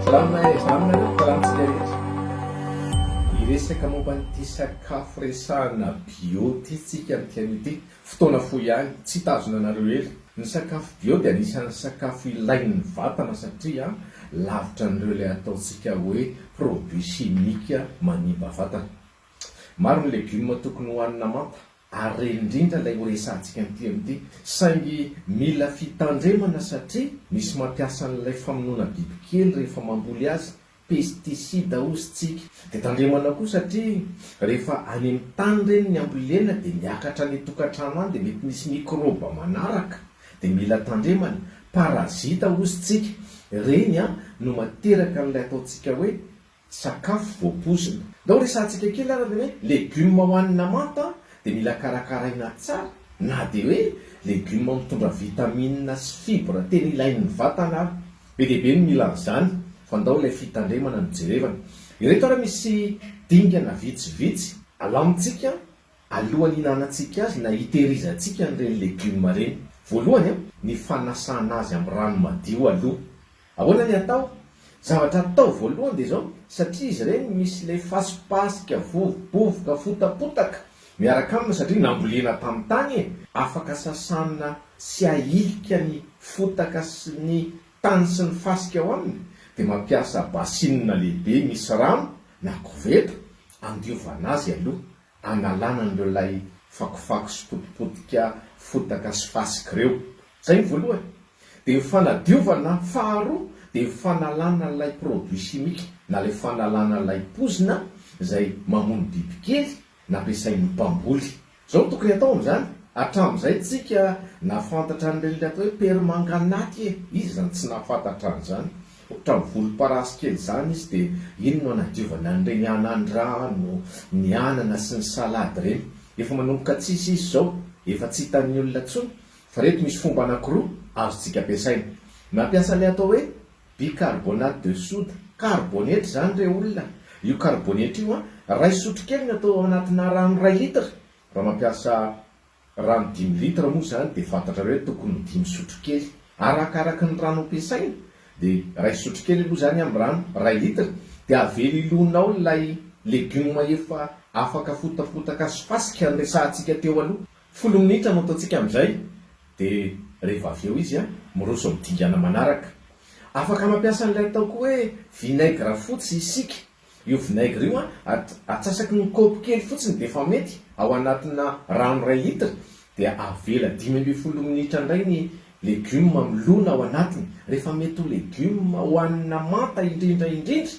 Salama e, salama nareo mpikarantsika rehetra. Hiresaka momba an'ity sakafo resahana bio ity tsika amin'ity ity. Fotoana fohy ihany, tsy hitazona anareo ela. Ny sakafo bio dia anisan'ny sakafo ilain'ny vatana satria lavitra an'ireo ilay ataontsika hoe produits chimiques manimba vatana. Maro ny legioma tokony hohanina manta Ary re indrindra ilay ho resahantsika amin'ity amin'ity, saingy mila fitandremana satria misy mampiasa an'ilay famonoana bibikely rehefa mamboly azy, pesticide hozy tsika. Dia tandremana koa satria rehefa any amin'ny tany ireny ny ambolena dia miakatra any an-tokantrano any dia mety misy mikrôba manaraka dia mila tandremana, parazita hozy tsika, ireny an no materaka an'ilay ataontsika hoe Tsy sakafo voapoizina. Ndao resahantsika kely ary ny hoe legioma hohanina manta dia mila karakaraina tsara na dia hoe legioma mitondra vitamina sy fibra tena ilain'ny vatana ary. Be dia be ny mila an'izany fa ndao ilay fitandremana no jerevana. Ireto ary misy dingana vitsivitsy alamintsika alohan'ny hihinanantsika azy na hitehirizantsika an'ireny legioma ireny. Voalohany, ny fanasana azy amin'ny rano madio aloha. Ahoana ny atao? Zavatra atao voalohany dia izao, satria izy ireny misy ilay fasipasika, vovobovoka, fotapotaka miaraka aminy satria nambolena tamin'ny tany e, afaka sasana tsy hahilika ny fotaka sy ny tany sy ny fasika ao aminy dia mampiasa basinina lehibe misy rano na koveta andiovana azy aloha. Angalana an'ireo ilay fakofako sy potipotika fotaka sy fasika ireo. Izay ny voalohany. Dia fanadiovana, faharoa dia fanalana ilay produit chimique na ilay fanalana ilay pozina izay mamono bibikely nampiasain'ny mpamboly. Izao no tokony atao amin'izany. Hatramin'izay tsika nahafantatra an'ireny ry reto hoe permanganaty e! Iza izany tsy nahafantatra an'izany? Otrany volomparasy kely zany izy de iny no anadiovany an'ireny anandrano, ny anana sy ny salade ireny. Efa manomboka tsisy izy zao, efa tsy hitan'ny olona tsony, fa reto misy fomba anakiroa azontsika ampiasaina. Mampiasa le atao hoe bicarbonate de soude, karibonetra izany re olona, io karibonetra io an, ray sotrokely no atao anatina rano ray litre raha mampiasa Rano dimy litre moa izany dia fantatrareo hoe tokony dimy sotrokely. Arakaraky ny rano ampiasaina dia iray sotrokely aloha izany amin'ny rano iray litre dia avela hilona ao ilay legioma efa afaka fotapotaka sy fasika noresahantsika teo aloha. Folo minitra no ataontsika amin'izay dia rehefa avy eo izy miroso amin'ny dingana manaraka. Afaka mampiasa an'ilay atao koa hoe vinaigre fotsy isika. Io vinaigre io an, atsasaky ny kaopy kely fotsiny dia efa mety, ao anatina rano iray litre, dia avela dimy ambin'ny folo minitra indray ny legioma milona ao anatiny, rehefa mety ho legioma hohanina manta indrindra indrindra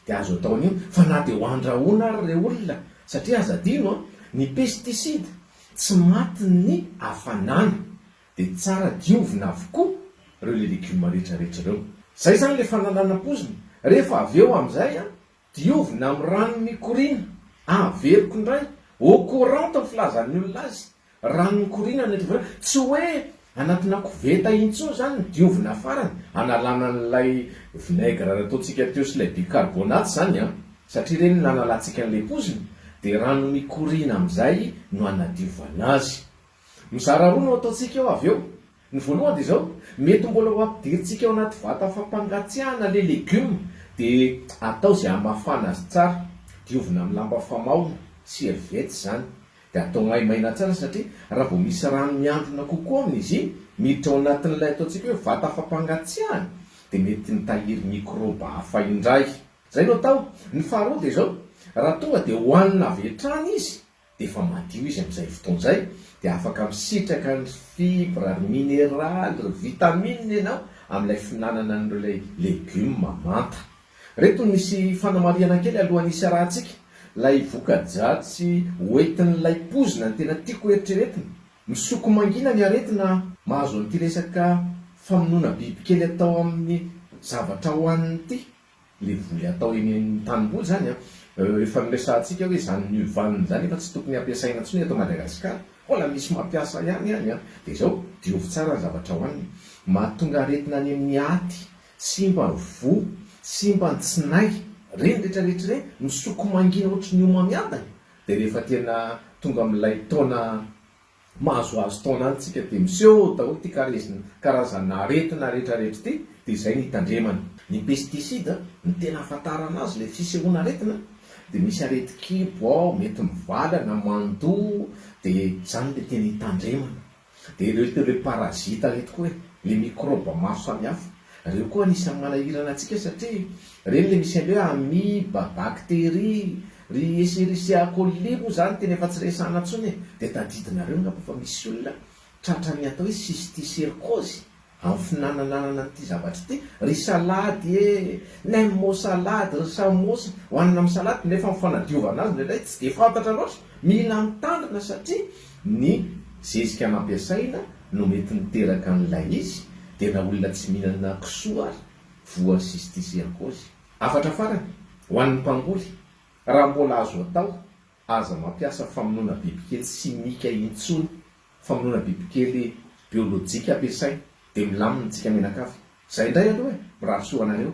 dia azo atao an'io, fa na dia ho andrahoina ary re olona, satria aza adino an, ny pesticide tsy matin'ny hafanana, dia tsara diovina avokoa reo le legume rehetra rehetra reo zay zany le fanalana pozina rehefa avy eo amizay a diovina am rano mikoriana averiko ndray au courant to filazan'ny olona azy rano mikoriana ny diovina tsy hoe anatina koveta iny tsony zany ny diovina farany analana an'ilay vinaigre nataontsika teo sy lay bicarbonate zany a satria reny nanalantsika an'le pozina dia rano mikoriana amizay no anadiovana azy Mizara roa no ataontsika eo avy eo. Ny voalohany dia izao, mety mbola ho ampidirintsika ao anaty vata fampangatsiahana ilay legioma dia atao izay hamafana azy tsara. Diovina amin'ny lamba famaona, serviette, izany. Dia atao maimaina tsara satria raha vao misy rano miandrona kokoa aminy izy iny, miditra ao anatin'ilay ataontsika hoe vata fampangatsiahana, dia mety mitahiry mikrôba hafa indray. Izay no atao. Ny faharoa dia izao, raha tonga dia hohanina avy hatrany izy, dia efa madio izy amin'izay fotoana izay dia afaka misitraka ny fibres ry mineraly ry vitamines ianao amin'ilay fihinanana an'ireo ilay legioma manta. Ireto nisy fanamarihana kely alohan'ny hisy arahantsika, ilay voka-dratsy ho entin'ilay poizina no tena tiako hoeritreretina. Misoko mangina ny aretina mahazo an'ity resaka famonoana bibikely atao amin'ny zavatra hohanina ity. le voly atao eny amin'ny tanimboly zany an! efa noresahantsika hoe zany mur vanne zany efa tsy tokony hampiasaina tsony eto Madagascar, mbola misy mampiasa ihany any an! de zao diovy tsara ny zavatra hoanina, mahatonga aretina any amin'ny aty, simba ny voa, simba ny tsinay, reny rehetra rehetra reny misoko mangina ohatry ny omamiadana, de rehefa tena tonga amin'ilay taona Mahazoazo taona any tsika dia miseho daholo ity karezina karazana aretina rehetra rehetra ity dia izay no hitandremana. Ny pesticide no tena ahafantarana azy ilay fisehoana aretina dia misy areti-kibo ao mety mivala na mandoa dia izany ilay tena hitandremana. Dia ireo ireo parazita ireto koa e, ilay mikrôba maro samihafa. Ireo koa anisan'ny manahirana antsika satria ireny ilay misy an'ilay hoe amiba, bakteria. Ry Escherichia coli moa izany tena efa tsy resahana intsony e! Dia tadidinareo angamba fa misy olona tratra ny atao hoe cysticercose amin'ny finanananana an'ity zavatra ity, ry salady e! Nem mot salade, ry samosa, hohanina amin'ny salady, nefa ny fanadiovana azy indraindray tsy dia fantatra loatra, mila mitandrina satria ny zezika nampiasaina no mety niteraka an'ilay izy, dia na olona tsy mihinana kisoa ary voa cysticercose. Hafatra farany ho an'ny mpamboly, raha mbola azo atao, aza mampiasa famonoana bibikely simika intsony, famonoana bibikely biolojika ampiasaina, dia milamina tsika mianakavy. Izay indray aloha e, mirary soa ho anareo.